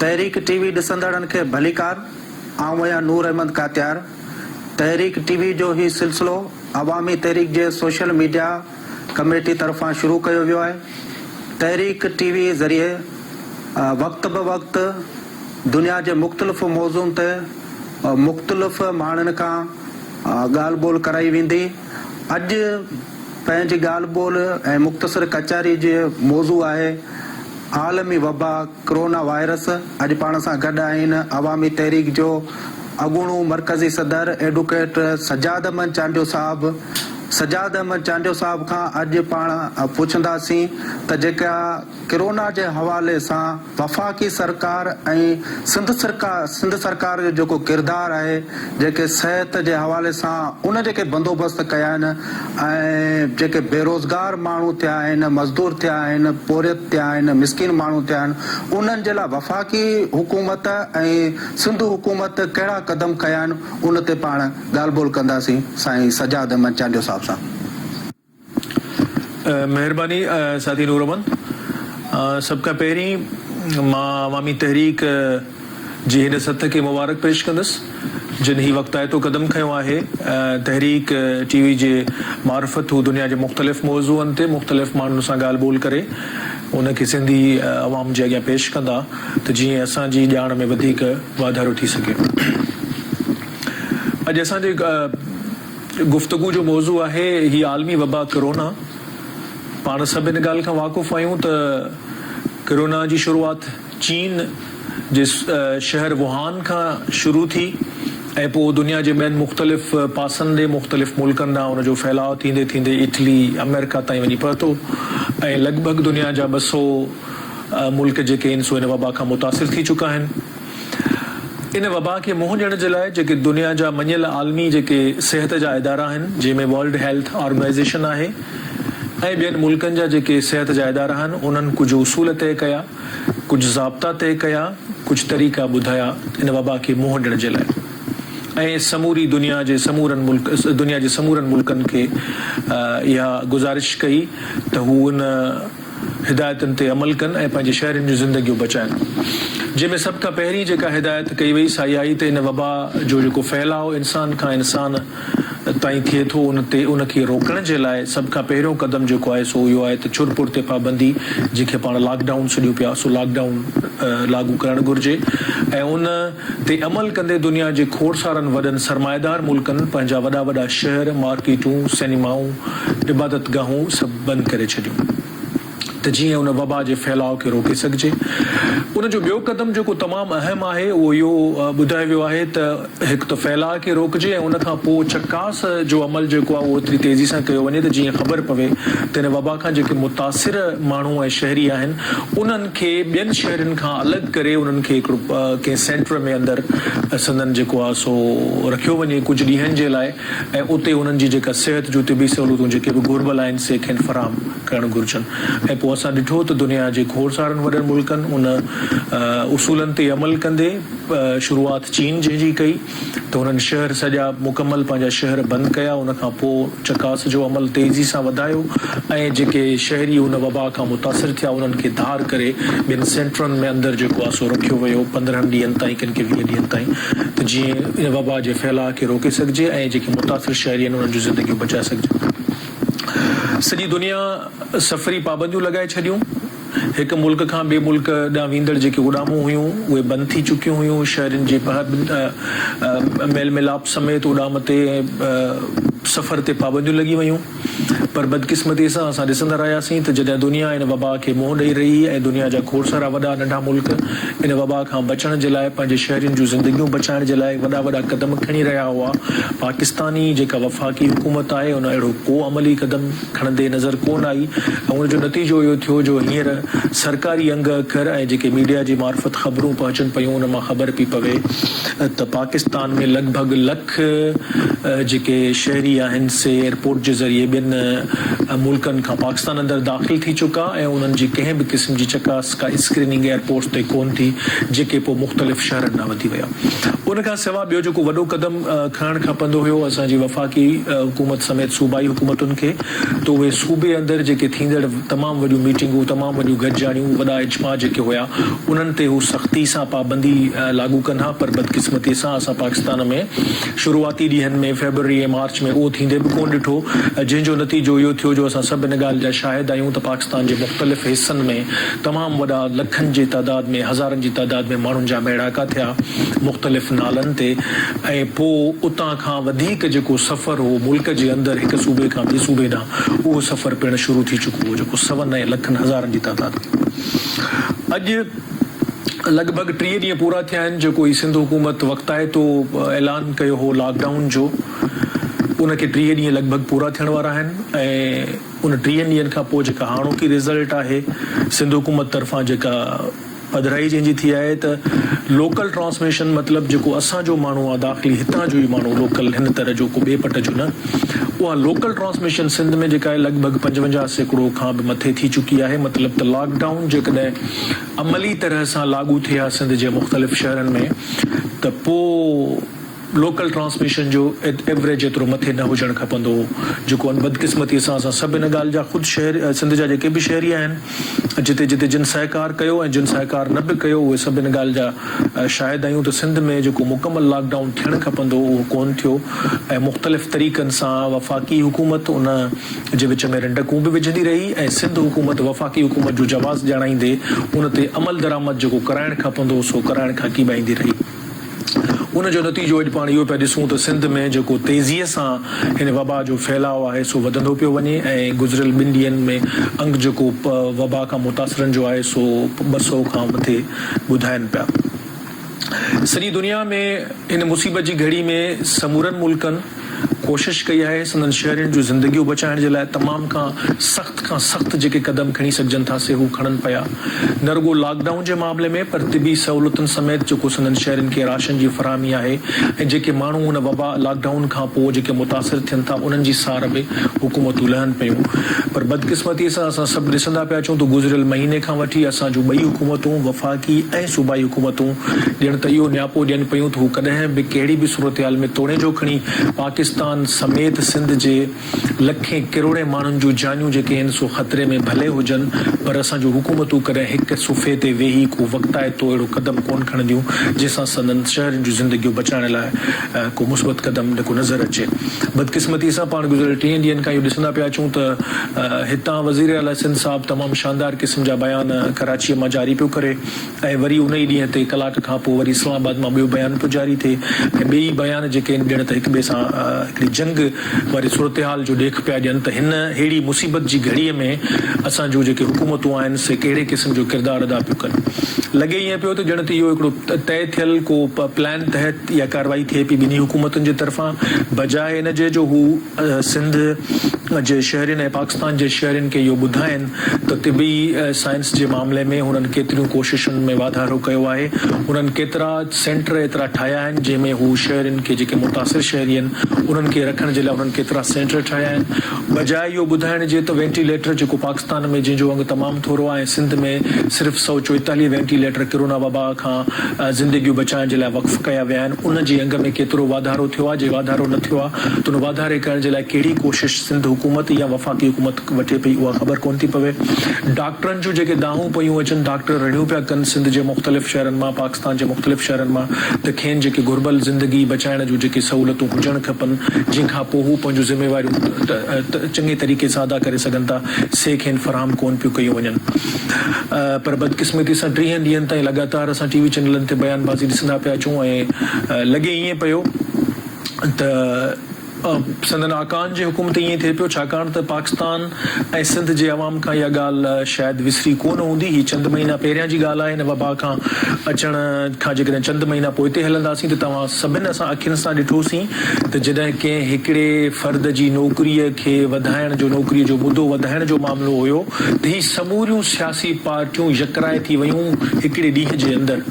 تحريڪ ٽي وي ڏسندڙن کي ڀليڪار آئون آهيان نور احمد ڪاتيار تحريڪ ٽي وي جو هي سلسلو عوامي تحريڪ جي سوشل ميڊيا ڪميٽي طرفان شروع ڪيو ويو آهي تحريڪ ٽي وي ذريعي وقت بوقت دنيا جي مختلف موضوعن تي مختلف ماڻهن کان ڳالهه ٻولهه ڪرائي ويندي. اڄ پنهنجي ڳالهه ٻولهه ۽ مختصر ڪچهري جو موضوع آهي عالمي وبا ڪرونا وائرس. اڄ پاڻ سان گڏ آهن عوامي تحريڪ جو اڳوڻو مرڪزي صدر ايڊوڪيٽ سجاد احمد چانڊيو صاحب. سجاد احمد چانڊيو صاحب کان اڄ پاڻ پڇنداسين ته جيڪا ڪرونا جي حوالي سان وفاقي سرڪار ۽ سنڌ سرڪار جو جيڪو ڪردار آهي، جيڪي صحت جي حوالي سان ان جيڪي بندوبست ڪيا آهن ۽ جيڪي بيروزگار ماڻهو ٿيا آهن، مزدور ٿيا آهن، پورهيت ٿيا آهن، مسڪين ماڻهو ٿيا آهن، انهن جي لاء وفاقي حڪومت ۽ سنڌ حڪومت ڪهڙا قدم کنيا آهن، ان تي پاڻ ڳالهه ٻولهه ڪنداسين سائين سجاد احمد چانڊيو صاحب سان. مهرباني ساٿي نور محمد سڀ کان پهرين مان عوامي تحريڪ جي هن سٿ کي مبارڪ پيش ڪندس جن هي وقتائتو قدم کنيو آهي تحريڪ ٽي وي جي معرفت هو دنيا جي مختلف موضوعن تي مختلف ماڻهن سان ڳالهه ٻولهه ڪري ان کي سنڌي عوام جي اڳيان پيش ڪندا ته جيئن اسان جي ڄاڻ ۾ وڌيڪ واڌارو ٿي سگهي اڄ اسان جي گفتگو جو موضوع آهي هي عالمي وبا ڪرونا. پاڻ سڀ ان ڳالهه کان واقف آهيون ته ڪرونا جي شروعات چين جي شهر ووهان کان شروع ٿي ۽ پوء دنيا جي ٻين مختلف پاسن ڏي مختلف ملڪن ڏانهن ان جو ڦهلاء ٿيندي ٿيندي اٽلي، آمريڪا تائين وڃي پهتو ۽ لڳ ڀڳ دنيا جا ٻه سؤ ملڪ جيڪي آهن سو ان وبا کان متاثر ٿي چڪا آهن. ان وبا کي منهن ڏيڻ جي لاء جيڪي دنيا جا مڃيل عالمي جيڪي صحت جا ادارا آهن جنهن ۾ ورلڊ هيلٿ آرگنائيزيشن آهي ۽ ٻين ملڪن جا جيڪي صحت جا ادارا آهن انهن ڪجهه اصول طئي ڪيا ڪجهه ضابطا طئي ڪيا ڪجهه طريقا ٻڌايا ان وبا کي منهن ڏيڻ جي لاء ۽ سموري دنيا جي سمورن ملڪ دنيا جي سمورن ملڪن کي اها گذارش ڪئي ته هو ان هدايتن تي عمل ڪن ۽ پنهنجي شهرين جون زندگيون بچائن جنهن ۾ سڀ کان پهرين جيڪا هدايت ڪئي وئي سا اها آهي ته ان وبا جو جيڪو ڦهلاء انسان کان انسان تائين ٿئي ٿو ان تي ان کي روڪڻ جي لاء سڀ کان پهريون قدم جيڪو آهي سو اهو آهي ته ڇر ڦر تي پابندي جنهن کي پاڻ لاڪ ڊائون سڏيون پيا سو لاڪ ڊائون لاڳو ڪرڻ گهرجي ۽ ان تي عمل ڪندي دنيا جي کوڙ سارن وڏن سرمائيدار ملڪن پنهنجا وڏا وڏا شهر، مارڪيٽون، سئنيمائون، عبادت گاهون سڀ بند ڪري ڇڏيون ته جيئن ان وبا جي ڦهلاء کي روڪي سگهجي. ان جو ٻيو قدم جيڪو تمام اهم آهي اهو اهو ٻڌايو ويو آهي ته هڪ ته ڦهلاء کي روڪجي ۽ ان کان پوء چڪاس جو عمل جيڪو آهي اهو ايتري تيزي سان ڪيو وڃي ته جيئن خبر پوي ته ان وبا کان جيڪي متاثر ماڻهو ۽ شهري آهن انهن کي ٻين شهرين کان الڳ ڪري انهن کي هڪڙو ڪنهن سينٽر ۾ اندر سندن جيڪو آ سو رکيو وڃي ڪجهه ڏينهن جي لاء ۽ اتي انهن جي جيڪا صحت جون طبي سهولتون جيڪي به گهربل آهن سي کين فراهم ڪرڻ گهرجن ۽ پوء اسان ڏٺو ته دنيا جي کوڙ سارن وڏن ملڪن ان اصولن تي عمل ڪندي شروعات چين جنهن جي ڪئي ته هنن شهر سڄا مڪمل پنهنجا شهر بند ڪيا ان کان پوء چڪاس جو عمل تيزي سان وڌايو ۽ جيڪي شهري ان وبا کان متاثر ٿيا انهن کي ڌار ڪري ٻن سينٽرن ۾ اندر جيڪو آهي سو رکيو ويو پندرهن ڏينهن تائين ڪن کي ويهه ڏينهن تائين ته جيئن ان وبا جي ڦهلاء کي روڪي سگهجي ۽ جيڪي متاثر شهري آهن انهن جون زندگيون بچائي سگهجن سڄي دنيا سفري پابنديون لڳائي ڇڏيون. هڪ ملڪ کان ٻئي ملڪ ڏانهن ويندڙ جيڪي اڏامون هيون، اهي بند ٿي چڪيون هيون. شهرين جي پهه ميل ميلاپ سميت اڏام تي ۽ سفر تي پابنديون لڳي ويون. پر بدقسمتيء سان اسان ڏسندا رهياسين ته جڏهن دنيا ان وبا کي منهن ڏئي رهي ۽ دنيا جا کوڙ سارا وڏا ننڍا ملڪ ان وبا کان بچڻ جي لاء پنهنجي شهرين جون زندگيون بچائڻ جي لاء وڏا وڏا قدم کڻي رهيا هئا، پاڪستاني جيڪا وفاقي حڪومت آهي ان اهڙو ڪو عملي قدم کڻندي نظر ڪونه آئي ۽ ان جو نتيجو اهو ٿيو جو هينئر سرڪاري انگ اکر ۽ جيڪي ميڊيا جي معرفت خبرون پهچن پيون ان مان خبر پئي پوي ته پاڪستان ۾ لڳ ڀڳ لک جيڪي شهري آهن سي ايئرپورٽ جي ذريعي ٻين ملڪن کان پاڪستان اندر داخل ٿي چڪا ۽ انهن جي ڪنهن به قسم جي چڪاس ڪا اسڪريننگ ايئرپورٽس تي ڪونه ٿي جيڪي پوء مختلف شهرن ڏانهن وڌي ويا ان کان سوا ٻيو جيڪو وڏو قدم کڻڻ کپندو هيو اسان جي وفاقي حڪومت سميت صوبائي حڪومتن کي ته اهي صوبي اندر جيڪي ٿيندڙ تمام وڏيون ميٽنگون تمام وڏيون گڏجاڻيون وڏا اجماع جيڪي هيا انهن تي هو سختي سان پابندي لاڳو ڪن ها پر بدقسمتي سان اسان پاڪستان ۾ شروعاتي ڏينهن ۾ فيبروري ۽ مارچ ۾ اهو ٿيندي به ڪونه ڏٺو جنهن جو نتيجو اهو ٿيو جو اسان سڀ ان ڳالهه جا شاهد آهيون ته پاڪستان جي مختلف حصن ۾ تمام وڏا لکن جي تعداد ۾ هزارن جي تعداد ۾ ماڻهن جا ميڙاڪا ٿيا مختلف نالن تي ۽ پوء اتان کان وڌيڪ جيڪو سفر هو ملڪ جي اندر هڪ صوبي کان ٻي صوبي ڏانهن اهو سفر پڻ شروع ٿي چڪو هو جيڪو سون ۽ لکن هزارن جي تعداد ۾ اڄ لڳ ڀڳ ٽيهه ڏينهن پورا ٿيا آهن جيڪو هي سنڌ حڪومت وقتائتو اعلان ڪيو هو لاڪ ڊائون جو ان کي ٽيهه ڏينهن لڳ ڀڳ پورا ٿيڻ وارا آهن ۽ ان ٽيهن ڏينهن کان پوء جيڪا هاڻوڪي رزلٽ آهي سنڌ حڪومت طرفان جيڪا پڌرائي جنهن جي ٿي آهي ته لوڪل ٽرانسميشن مطلب جيڪو اسان جو ماڻهو آهي داخلي هتان جو ئي ماڻهو لوڪل هن طرح جو ڪو ٻئي پٽ جو نه اها لوڪل ٽرانسميشن سنڌ ۾ جيڪا آهي لڳ ڀڳ پنجونجاهه سيڪڙو کان به مٿي ٿي چڪي آهي مطلب ته لاڪ ڊائون جيڪڏهن عملي طرح سان لاڳو ٿئي ها سنڌ جي مختلف شهرن ۾ ته پوء لوڪل ٽرانسميشن جو ايوريج ايترو مٿي نه هجڻ کپندو هو جيڪو ان بدقسمتي سان اسان سڀ ان ڳالهه جا خود شهري سنڌ جا جيڪي به شهري آهن جتي جتي جن سهڪار ڪيو ۽ جن سهڪار نه به ڪيو اهي سڀ ان ڳالهه جا شاهد آهيون ته سنڌ ۾ جيڪو مڪمل لاڪ ڊائون ٿيڻ کپندو هو اهو ڪونه ٿيو ۽ مختلف طريقن سان وفاقي حڪومت ان جي وچ ۾ رنڊڪون به وجهندي رهي ۽ سنڌ حڪومت وفاقي حڪومت جو جواز ڄاڻائيندي ان تي عملدرآمد جيڪو ڪرائڻ کپندو هو سو ڪرائڻ کان ڪيٻائيندي رهي. ان جو نتيجو اڄ پاڻ اهو پيا ڏسون ته سنڌ ۾ جيڪو تيزيء سان هن وبا جو ڦهلاء آهي سو وڌندو پيو وڃي ۽ گذريل ٻن ڏينهن ۾ انڪ جيڪو وبا کان متاثرن جو آهي سو ٻه سؤ کان مٿي ٻڌائين پيا. سڄي دنيا ۾ هن مصيبت جي گهڙي ۾ سمورن ملڪن، ڪوشش ڪئي آهي، سندن شهرين جون زندگيون بچائڻ جي لاء تمام کان سخت کان سخت جيڪي قدم کڻي سگهجن ٿا سي هو کڻن پيا، نه رڳو لاڪ ڊائون جي معاملي ۾ پر طبي سهولتن سميت جيڪو سندن شهرين کي راشن جي فراهمي آهي ۽ جيڪي ماڻهو ان وبا لاڪ ڊائون کان پوء جيڪي متاثر ٿين ٿا انهن جي سار به حڪومتون لهن پيون پر بدقسمتي سان اسان سڀ ڏسندا پيا اچون ته گذريل مهيني کان وٺي اسان جون ٻئي حڪومتون وفاقي اي ۽ صوبائي حڪومتون ڄڻ ته اهو نياپو ڏين پيون ته هو ڪڏهن به ڪهڙي به صورتحال ۾ توڙي جو کڻي پاڪستان سميت سنڌ جي لکين ڪروڙين ماڻهن جون جانيون جيڪي هن سو خطري ۾ ڀلي هجن پر اسان جون حڪومتون ڪڏهن هڪ صفحي تي ويهي ڪو وقتائتو اهڙو قدم ڪونه کڻنديون جنهن سان سندن شهرين جون زندگيون بچائڻ لاء ڪو مثبت قدم نه ڪو نظر اچي. بدقسمتي سان پاڻ گذريل ٽيهن ڏينهن کان اهو ڏسندا پيا اچون ته هتان وزير اعليٰ سنڌ صاحب تمام شاندار قسم جا بيان ڪراچيء مان جاري پيو ڪري ۽ وري ان ئي ڏينهن تي ڪلاڪ کان پوء وري اسلام آباد مان ٻيو بيان پيو جاري ٿئي ۽ ٻئي ئي بيان جيڪي آهن ڄڻ ته هڪ ٻئي سان هڪڙي جنگ واري صورتحال جو ڏيک پيا ڏين ته هن ههڙي مصيبت جي گهڙيء ۾ اسان جون جيڪي حڪومتون آهن سي ڪهڙي قسم جو ڪردار ادا پيون ڪن. لڳي ائين پيو ته ڄڻ ته اهو هڪڙو طئي ٿيل ڪو پلان تحت اها ڪارروائي ٿئي پئي ٻنهي حڪومتن جي طرفان بجاء ان جي جو هو سنڌ جي شهرين ۽ پاڪستان جي شهرين کي اهو ٻڌائين ته طبي سائنس جي معاملي ۾ هنن ڪيتريون ڪوششن ۾ واڌارو ڪيو آهي هنن ڪيترا سينٽر ايترا ٺاهيا آهن جنهن ۾ هو شهرين کي جيڪي متاثر شهري آهن انهن کي رکڻ جي لاء هنن ڪيترا سينٽر ٺاهيا آهن بجاء اهو ٻڌائڻ جي ته وينٽيليٽر جيڪو پاڪستان ۾ جنهن جو انگ تمام ٿورو آهي ۽ سنڌ ۾ صرف سؤ چوئيتاليهه وينٽي ليٽر ڪرونا وبا کان زندگيون بچائڻ جي لاء وقف ڪيا ويا آهن ان جي انگ ۾ ڪيترو واڌارو ٿيو آهي جي واڌارو نه ٿيو آهي ته ان واڌاري ڪرڻ جي لاء ڪهڙي ڪوشش سنڌ حڪومت يا وفاقي حڪومت وٺي پئي اها خبر ڪونه ٿي پوي ڊاڪٽرن جون جيڪي دانهون پيون اچن ڊاڪٽر رڙيون پيا ڪن سنڌ جي مختلف شهرن مان پاڪستان جي مختلف شهرن مان ته کين جيڪي گهربل زندگي بچائڻ جون جيڪي سهولتون هجڻ کپن جنهن کان پوء هو پنهنجون ذميواريون چڱي طريقي سان ادا ڪري سگهن ٿا، سي کين فراهم ڪونه پيون ڪيون وڃن. پر بدقسمتي سان ٽيهن ڏينهن تائين لڳاتار اسان ٽي وي چئنلن تي بيان بازي ڏسندا پيا اچون ۽ لڳي ائين پيو ته سندن آقائن جي حڪم تي ائين ٿئي پيو ڇاڪاڻ ته پاڪستان ۽ سنڌ جي عوام کان اها ڳالهه شايد وسري ڪونه هوندي. هي چند مهينا پهريان جي ڳالهه آهي هن وبا کان اچڻ کان جيڪڏهن چند مهينا پوئتي هلنداسين ته توهان سڀن اسان اکين سان ڏٺوسين ته جڏهن ڪنهن هڪڙي فرد جي نوڪريء کي وڌائڻ جو نوڪريء جو مدو وڌائڻ جو معاملو هيو ته هي سموريون سياسي پارٽيون يڪرائي ٿي ويون هڪڙي ڏينهن جي اندر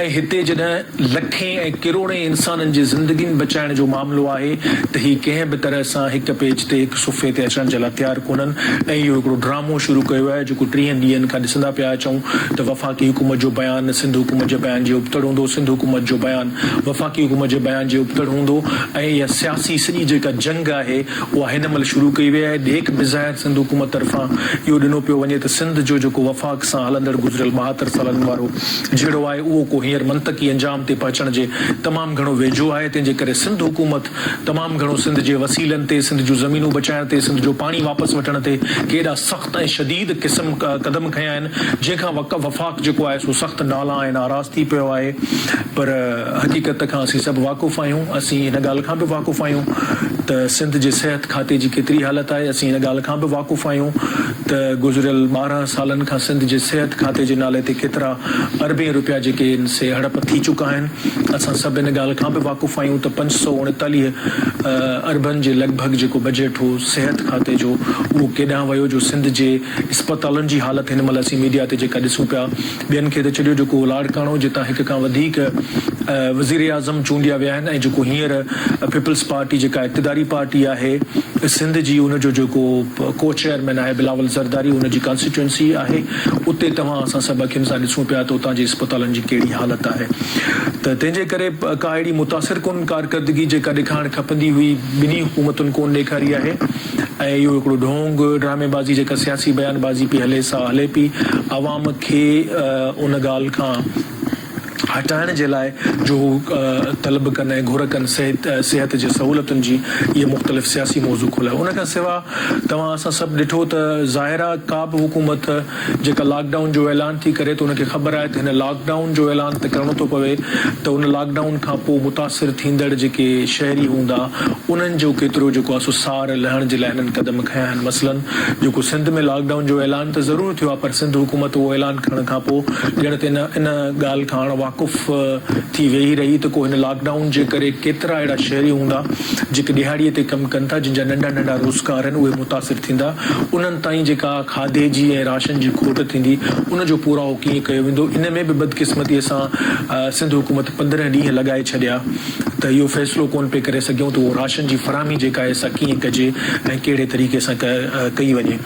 ۽ هتي جڏهن لکين ۽ ڪروڙين انسانن جي زندگين بچائڻ جو معاملو آهي ته هي ڪنهن به طرح سان هڪ پيج تي هڪ صفحي تي اچڻ جي لاء تيار ڪونهن ۽ اهو هڪڙو ڊرامو شروع ڪيو آهي جيڪو ٽيهن ڏينهن کان ڏسندا پيا اچون ته وفاقي حڪومت جو بيان سنڌ حڪومت جي بيان جي ابتڙ هوندو سنڌ حڪومت جو بيان وفاقي حڪومت جي بيان جي ابتڙ هوندو ۽ اها سياسي سڄي جيڪا جنگ آهي اها هن مهل شروع ڪئي وئي آهي ڏيک بظاهر سنڌ حڪومت طرفان اهو ڏنو پيو وڃي ته سنڌ جو جيڪو وفاق سان هلندڙ گذريل ٻاهتر سالن وارو جهيڙو آهي اهو ڪو هينئر منطقي انجام تي پهچڻ جي تمام گهڻو ويجهو آهي تنهنجي ڪري سنڌ حڪومت تمام گهڻو سنڌ جي وسيلن تي سنڌ جون زمينون بچائڻ تي سنڌ جو پاڻي واپس وٺڻ تي ڪيڏا ۽ شديد قسم قدم کنيا آهن جنهن کان وفاق جيڪو آهي سو سخت نالا ۽ ناراض ٿي پيو آهي پر حقيقت کان اسين سڀ واقف آهيون اسين ان ڳالهه کان به واقف آهيون ته سنڌ جي صحت کاتي جي ڪيتري حالت آهي اسين ان ڳالهه کان به واقف آهيون ته گذريل ٻارهن سالن کان سنڌ جي صحت کاتي جي نالي تي ڪيترا اربين رپيا جيڪي ان سي هڙپ ٿي چڪا آهن اسان سڀ ان ڳالهه کان به واقف آهيون ته پنج سؤ اڻيتاليهه اربن جي لڳ ڀڳ جيڪو بجيٽ هو صحت کاتي جو اهو ڪيڏانهن ويو جو سنڌ جي اسپتالن جي حالت هن مهل اسين ميڊيا تي جيڪا ڏسون پيا ٻين کي ته ڇڏيو جيڪو لاڙڪاڻو جتان هڪ کان وڌيڪ وزيراعظم چونڊيا ويا آهن ۽ جيڪو هينئر پيپلز پارٽي جيڪا اقتداري پارٽي آهي سنڌ جي ان جو جيڪو ڪو چيئرمين آهي بلاول زرداري ان جي ڪانسٽيٽوئنسي آهي اتي توهان اسان سڀ اکين سان ڏسون پيا ته اتان جي اسپتالن جي ڪهڙي حالت آهي ته تنهن جي ڪري ڪا اهڙي متاثر ڪن ڪارڪردگي جيڪا ڏيکارڻ کپندي هئي ٻنهي حڪومتن ڪونه ڏيکاري آهي ۽ اهو هڪڙو ڍونگ، ڊرامي بازي جيڪا سياسي بيان بازي پئي هلي سا هلي پئي عوام کي ان ڳالهه کان هٽائڻ جي لاء جو هو طلب ڪن ۽ گهر ڪن صحت صحت جي سهولتن جي اهي مختلف سياسي موضوع کولائي ان کان سوا توهان اسان سڀ ڏٺو ته ظاهر آهي ڪابه حڪومت جيڪا لاڪ ڊائون جو اعلان ٿي ڪري ته ان کي خبر آهي ته هن لاڪ ڊائون جو اعلان ته ڪرڻو ٿو پوي ته ان لاڪ ڊائون کان پوء متاثر ٿيندڙ جيڪي شهري هوندا انهن جو ڪيترو جيڪو آهي سو سار لهڻ جي لاء هنن قدم کنيا آهن مثلا جيڪو سنڌ ۾ لاڪ ڊائون جو اعلان ته ضرور ٿيو آهي پر سنڌ حڪومت اهو اعلان ڪرڻ کان پوء ڄڻ ته ان ڳالهه کان اڻ واقف ٿي ويهي رهي ته ڪو هن لاڪ ڊائون جي ڪري ڪيترا اهڙا شهري هوندا جيڪي ڏهاڙي تي ڪم ڪن ٿا جن جا ننڍا ننڍا روزگار آهن اهي متاثر ٿيندا انهن تائين جيڪا کاڌي جي ۽ راشن جي کوٽ ٿيندي، ان جو پورائو ڪيئن ڪيو ويندو، ان ۾ به بدقسمتيء سان سنڌ حڪومت پندرهن ڏينهن لڳائي ڇڏيا ته اهو فيصلو ڪونه پئي ڪري سگهيون ته اهو راشن جي فراهمي جيڪا آهي سا ڪيئن ڪجي ۽ ڪهڙي طريقي سان ڪئي وڃي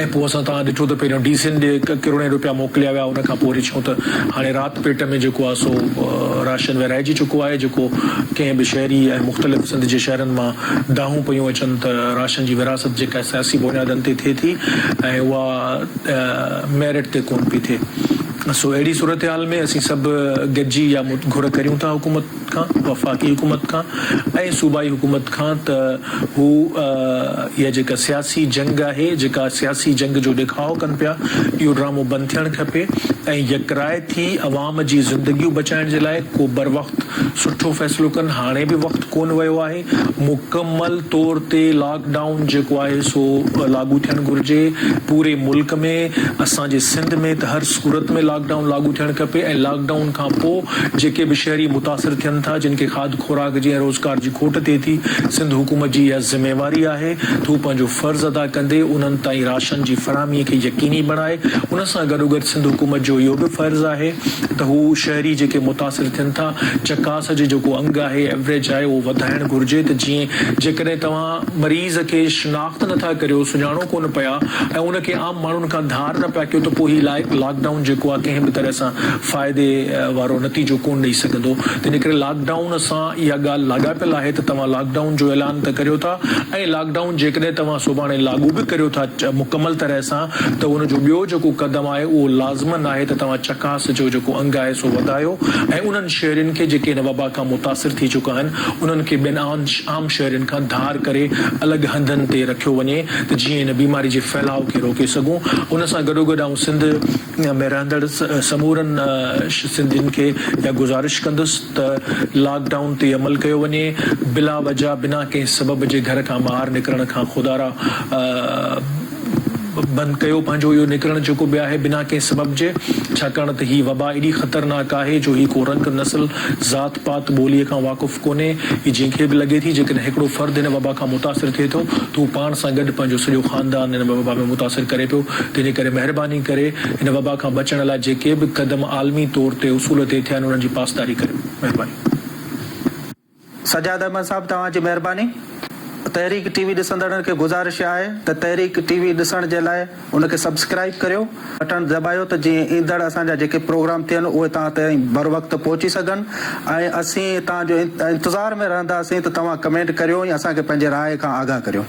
۽ پوء اسان توهان ڏٺو ته پهريون ڊي سين ڏي ڪروڙين روپيا موڪليا ويا ان کان پوء وري ڇونه ته هاڻي رات پيٽ ۾ جيڪو آهي سو راشن ورهائجي چڪو آهي جيڪو ڪنهن به شهري ۽ مختلف سنڌ جي شهرن مان دانهون پيون اچن ته راشن جي ورهاست جيڪا سياسي بنيادن تي ٿئي ٿي ۽ اها ميرٽ تي ڪونه پئي ٿئي سو اهڙي صورتحال ۾ اسين سڀ گڏجي اها گهر ڪريون ٿا حڪومت کان وفاقي حڪومت کان ۽ صوبائي حڪومت کان ته هو اها جيڪا سياسي جنگ آهي جيڪا سياسي جنگ جو ڏيکاء ڪن پيا اهو ڊرامو بند ٿيڻ کپي ۽ يڪراء ٿي عوام عوام جي زندگيون بچائڻ جي لاء ڪو بروقت سٺو فيصلو ڪن، هاڻي به وقت ڪونه ويو آهي، مڪمل طور تي لاڪ ڊائون جيڪو آهي سو لاڳو ٿيڻ گهرجي، پوري ملڪ ۾ اسان جي سنڌ ۾ ته هر صورت ۾ لاڪ ڊائون لاڳو ٿيڻ کپي ۽ لاڪ ڊائون کان پو جيڪي به شهري متاثر ٿين ٿا جن کي کاڌ خوراڪ جي ۽ روزگار جي کوٽ ٿئي ٿي سنڌ حڪومت جي اها ذميواري آهي ته هو پنهنجو فرض ادا ڪندي انهن تائين راشن جي فراهمي کي يقيني بڻائي انهن سان گڏوگڏ سنڌ حڪومت جو اهو به فرض آهي ته هو شهري جيڪي متاثر ٿين ٿا چڪاس جي جيڪو انگ آهي ايوريج آهي اهو وڌائڻ گهرجي ته جيئن جيڪڏهن توهان مريض کي شناخت نٿا ڪريو سڃاڻو ڪونه پيا ۽ ان کي عام ماڻهن کان ڌار نه پيا ڪيو ته پوء هي لاڪ ڊائون جيڪو آهي ڪنهن به طرح سان فائدي وارو نتيجو ڪونه ڏئي سگهندو تنهن ڪري لاڪ ڊائون سان اها ڳالهه لاڳاپيل آهي ته توهان لاڪ ڊائون جو اعلان ته ڪريو ٿا ۽ لاڪ ڊائون جيڪڏهن توهان سڀاڻي لاڳو به ڪريو ٿا مڪمل طرح سان ته ان جو ٻيو جيڪو قدم آهي اهو لازمن آهي ته توهان چڪاس جو جيڪو انگ آهي سو وڌايو ۽ انهن شهرين کي جيڪي ان وبا کان متاثر ٿي چڪا آهن انهن کي ٻين عام شهرين کان ڌار ڪري الڳ هنڌن تي رکيو وڃي ته جيئن ان بيماري جي ڦهلاء کي روڪي سگهون ان سان گڏوگڏ آئون سنڌ ۾ رهندڙ سمورن سنڌين کي اها گذارش ڪندس ته لاڪ ڊائون تي عمل ڪيو وڃي بلا وجه بنا ڪنهن سبب جي گهر کان ٻاهر نڪرڻ کان خدارا بند ڪيو پنهنجو اهو نڪرڻ جيڪو به آهي بنا ڪنهن سبب جي ڇاڪاڻ ته هي وبا ايڏي خطرناڪ آهي جو هي ڪو رنگ نسل ذات پات ٻولي کان واقف ڪونهي هي جنهن کي به لڳي ٿي جيڪڏهن هڪڙو فرد هن وبا کان متاثر ٿئي ٿو ته هو پاڻ سان گڏ پنهنجو سڄو خاندان هن وبا ۾ متاثر ڪري پيو تنهنجي ڪري مهرباني ڪري هن وبا کان بچڻ لاء جيڪي به قدم عالمي طور تي اصول طئي ٿيا آهن انهن جي پاسداري ڪريو مهرباني. سجاد احمد صاحب توهان جي مهرباني. تحريڪ ٽي وي ڏسندڙن کي گذارش آهي ته تحريڪ ٽي وي ڏسڻ جي لاء ان کي سبسڪرائيب ڪريو. بٽڻ دٻايو ته جيئن ايندڙ اسان جا جيڪي پروگرام ٿين اهي توهان تائين بروقت پهچي سگهن ۽ اسين توهان جو انتظار ۾ رهنداسين ته توهان ڪمينٽ ڪريو ۽ اسان کي پنهنجي راء کان آگاهه ڪريو.